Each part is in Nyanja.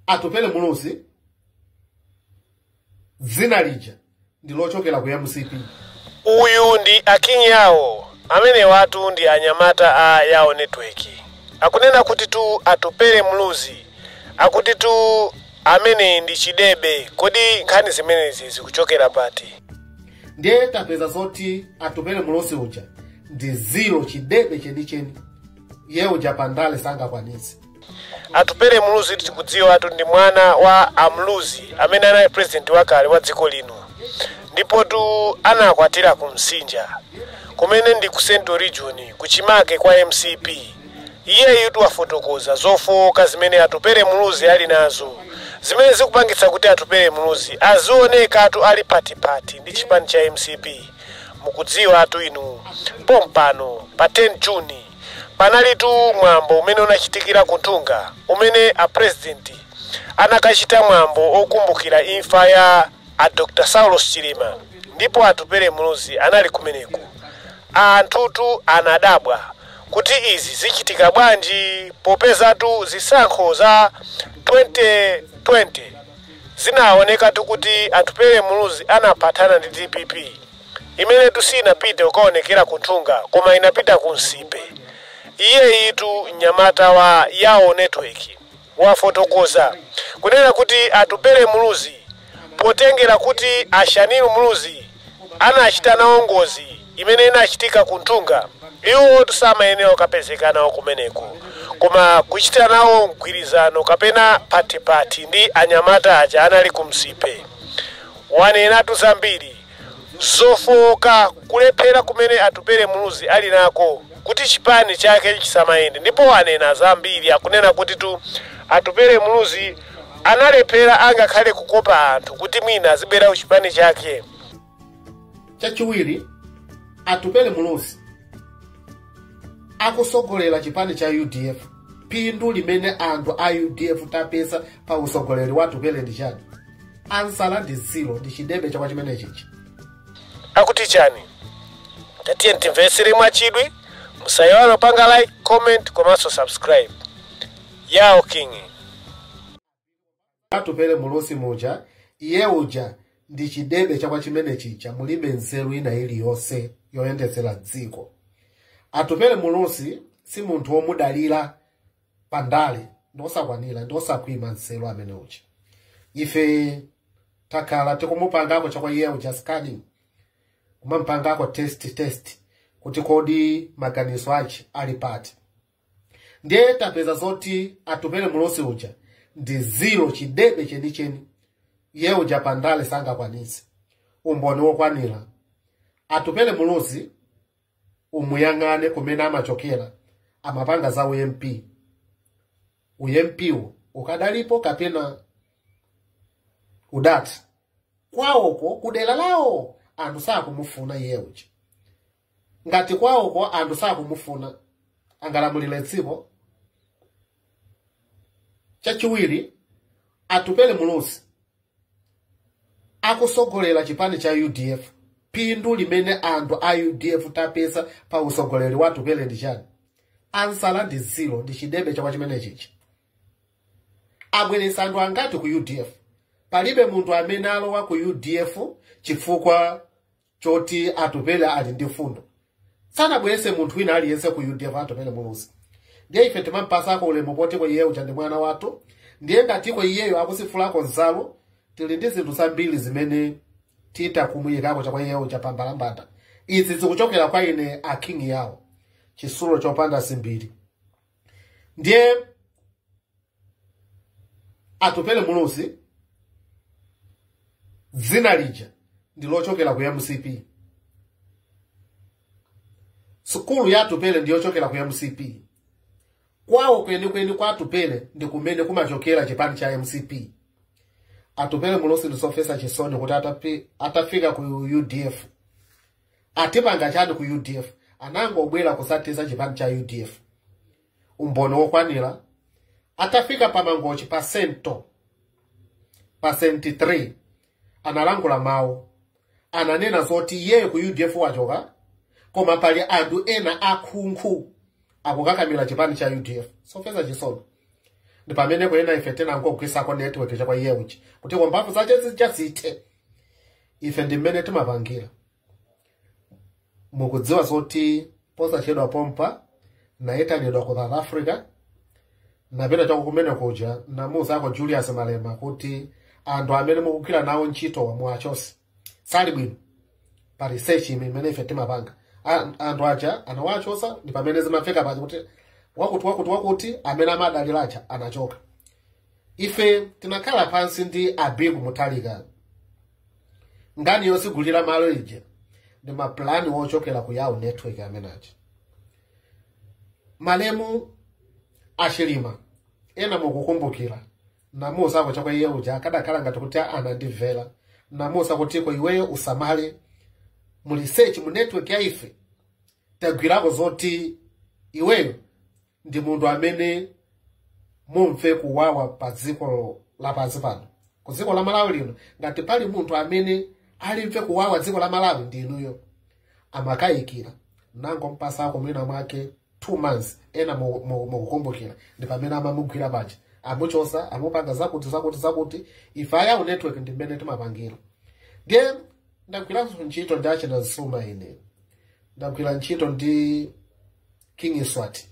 atupele muluzi dzina lija ndi lochokera ku mcp uyu ndi akinyawo amenewatu ndi anyamata a yawo network akunena kutitu atupele muluzi akutitu amene ndi chidebe kodi nkhani zimenezi zikuchokera pati ndiye tapeza zoti atupele muluzi uja ndi ziro chidebe chenicheni iye uja pandale sangakwanitse Atupele Muluzi tikudziwatu ndi mwana wa a Muluzi amene anali president wakale wa dziko lino ndipotu anakwatira ku Msinja kumene ndi ku Central Region kuchimake kwa MCP. Iyeyutu wafotokoza zofowoka zimene Atupele Muluzi ali nazo zimene zikupangitsa kuti Atupele Muluzi azionekatu ali patipati ndi chipani cha MCP. Mukudziwatu inu pompano pa 10 June Panalitu mwambo umene unachitikira ku Nthungwa umene a president anakachita mwambo okumbukira imfa ya a Dr Saulos Chilima ndipo Atupele Muluzi anali kumeneku. Anthutu anadabwa kuti izi zichitika bwanji popezatu zisankho za 2020 zinaonekatu kuti Atupele Muluzi anaphatana ndi dpp. Imenetu siinapite kukaonekera ku Nthungwa koma inapita ku nsipe. Iyeyitu mnyamata wa Yawo Network wafotokoza kunena kuti Atupele Muluzi potengera kuti a Shanil Muluzi anachita nawo ngozi imene inachitika ku Nthungwa, iwotu samayenera kukapezeka nawo kumeneko koma kuchita nawo mgwirizano kapena phatiphati ndi anyamata aja anali ku Nsipe. Wanenatu zambiri. zofooka, kulephera kumene Atupele Muluzi ali nako kuti chipani chake chisamayende ndipo wanena zambiri. Akunena kutitu Atupele Muluzi analephera angakhale kukopa anthu kuti mwina azibwera ku chipani chake. Chachiwiri, Atupele Muluzi akusogolera chipani cha udf phindu limene anthu a udf tapeza pa usogoleri wa Atupele ndi chani ansala ndi zilo ndi chidebe chachabechabe chimene chija akuti chani tatiyeni timvetsere mwachidwi musayiwale kupanga like comment komanso subscribe yao king atupele muluzi muja iye uja ndi chidebe chakwa chimene chija mulibe nzeru ina iliyonse yoyendetsera dziko atupele muluzi si munthu womudalira pa ndale ndi wosakwanira ndi wosakhwima nzeru amene uja ife takhala tikumupangako chakwa iye uja scanning kumampangako test test kuti kodi maganizo ache ali pati ndiye tapeza zoti atupele muluzi uja ndi ziro chidebe chenicheni iye uja pa ndale sangakwanitse umboni wokwanira atupele muluzi umuyang'ane kumene amachokera amapanga za ump umpwo ukadalipo kapena udati kwawoko kudera lawo anthu sakumufuna iye uja ngati kwawoko anthu sakumufuna angalamulire dziko chachiwiri atupele muluzi akusogolera chipani cha udf phindu limene anthu a udf tapeza pa usogoleri wa atupele ndi chani ansala ndi zilo ndi chidebe chakwa chimenechichi abweretsa anthu angati ku udf palibe munthu amene alowa ku udf chifukwa choti atupele ali ndi fundo sanabwerese munthu wina aliyense ku udf atupele muluzi ndiye ife timampasako ulemu potiko iye uja ndi mwana wathu ndiye ngatiko iyeyo akusifulako nzalo tili ndi zinthu zambiri zimene tita kumuyikako chakwa iye uja pambalambanda izi zikuchokera kwa ine a king yawo chisulo chopanda dzimbiri ndiye atupele muluzi dzina lija ndi lochokera ku mcp sukulu ya atupele ndi yochokera ku mcp kwawo kwenikweni kwa atupele ndi kumene kumachokera chipani cha mcp atupele muluzi ndizomvetsa chisoni kuti atapi- atafika ku udf atipanga chani ku udf anangobwera kuzathetsa chipani cha udf umboni wokwanira atafika pa mangochi pa sento pa 73 analankhula mawu ananena zoti iyeyo ku udf wachoka koma pali anthu ena akhunkhu akukakamira chipani cha udf zomvetsa chisoni ndi pamene kunena ife tinangogwisako network chakwa iye uja kuti kwa mphamvu zache zichasithe ife ndi mmene timapangira mukudziwa zoti posachedwa pompa nayitanidwa ku south africa napita chako kumene kuja namuuzako julius malema kuti anthu amene mukugwira nawo ntchitowa muwachose sali bwino pa research imene ife timapanga anthu aja anawachosa ndi pamene zimafika paja kuti wakuti wakuti wakuti amene amadalira aja anachoka ife tinakhala pansi ndi abiku mutharika nkhani yozungulira malo ija ndi mapulani ochokera ku yawo network amenaja malemu achilima ena mukukumbukira namuuza chakwa iye uja akadakhala ngati kuti anandimvera namuuza kuti kwa iweyo usamale mu research mu network ya ife tagwirako zoti iweyo ndi munthu amene mumve kuwawa pa dziko lapansi pano ku dziko la malawi lino ngati pali munthu amene alimve kuwawa dziko la malawi ndi inuyo amakayikira nango mpasa ako mwina mwake two months ena mu- mu- mukukumbukira ndi pamene amamugwira paja amuchosa amupanga zakuti zakuti zakuti ife ayawo network ndi mmene timapangira ndiye ndagwiranso ntchito ndi achina zuma ine ndagwira ntchito ndi king mswati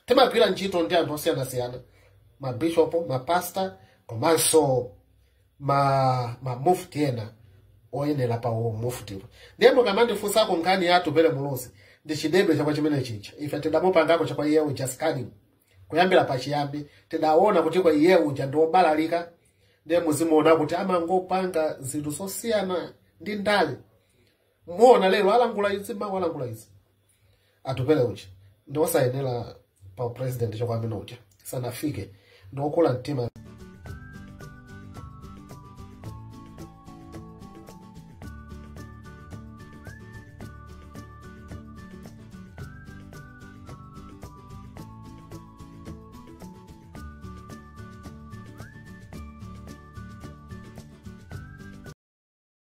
timagwira ntchito ndi anthu osiyanasiyana mabishopo mapasta komanso ma mamufti ena oyenera pa umuftiwo ndiye mukamandifunsako nkhani ya atupele muluzi ndi chidebe chakwa chimene chicha ife tidamupangako chakwa iye uja scanning kuyambira pachiyambi tidaona kuti kwa iye uja ndi wobalalika ndiye muzimuona kuti amangopanga zinthu zosiyana ndi ndale muona lero alangula izi mawa alangula izi atupele uja ndi osayenera pa upresident chakwa amene uja sanafike ndi okula mtima